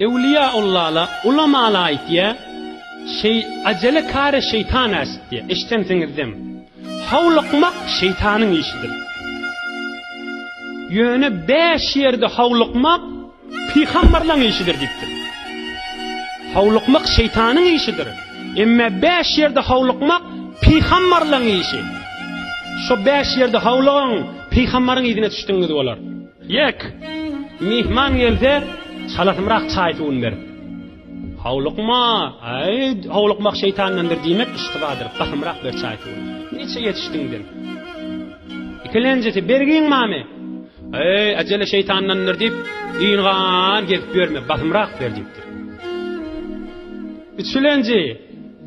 Ewliýa Allala, ulamala aýtýa, Şeý, ajele kary şeýtan äşitýä, eşdensiňizdem. Howlukmak şeýtanyň işidir. Ýöne bäş ýerde howlukmak pygamberlaň işidir diýipdir. Howlukmak şeýtanyň işidir. Emme bäş ýerde howlukmak pygamberlaň işi. Şo bäş ýerde howlugyň, pygamberyň yzyna düşdiňiz bolar. Ýek, myhman gelse, çalasymrak çaý-suwuny berip, Howlukma, aý, howlukmak şeýtandandyr diýmek iştibadyr, basymrak ber çaý-suwuny. Niçe ýetişdiň sen? Ikilenjisi, Bergin mame! Aý, äjele şeýtandandyr diýip, ýyňan gezip ýörme, basymrak ber diýipdir. Üçülenji,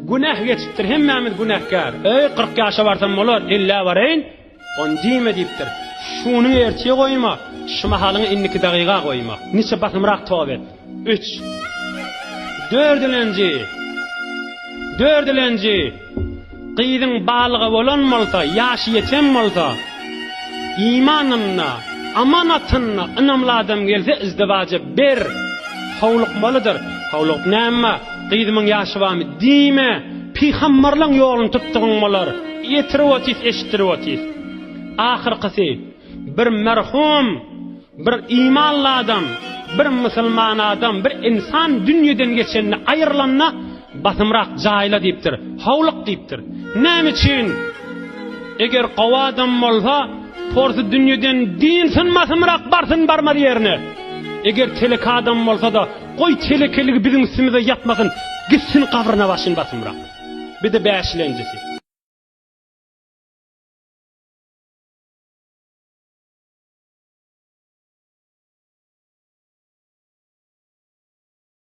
Günäh geçipdir, hemmämiz günäkär. Aý, kyrk ýaşa barsam bolar, ellä baraýyn. On diýme diýipdir. Şuny ertir goýma, şu mahalyňy indiki dagyga goýma. Niçe basymrak tob et. Üç. Dördülenji. Dördülenji. Gyzyň balyga bolan bolsa, ýaşy ýeten bolsa, imanyna, amanatyna ynamly adam gelse izdiwaja ber. Howlukmalydyr. Howlugyp näme? Gyzymyň ýaşy barmy? Diýme. Pygamberleň ýoluny tutdugyň bolar. Ýetirip otys, eşitdirip otys. Ahyrkysy, bir merhum, bir imanly adam, bir musulman adam, bir insan dünýeden geçende, aýrylanda, basymrak jaýla diýipdir, howluk diýipdir. Näme üçin? Eger gowy adam bolsa, porsy dünýeden diýilsin, basymrak barsyn, barmaz ýerine. Eger telek adam bolsa-da, Goý telekeligi biziň üstümize ýapmasyn gitsin gabryna başyn basymrak. Bide bäşilenjisi.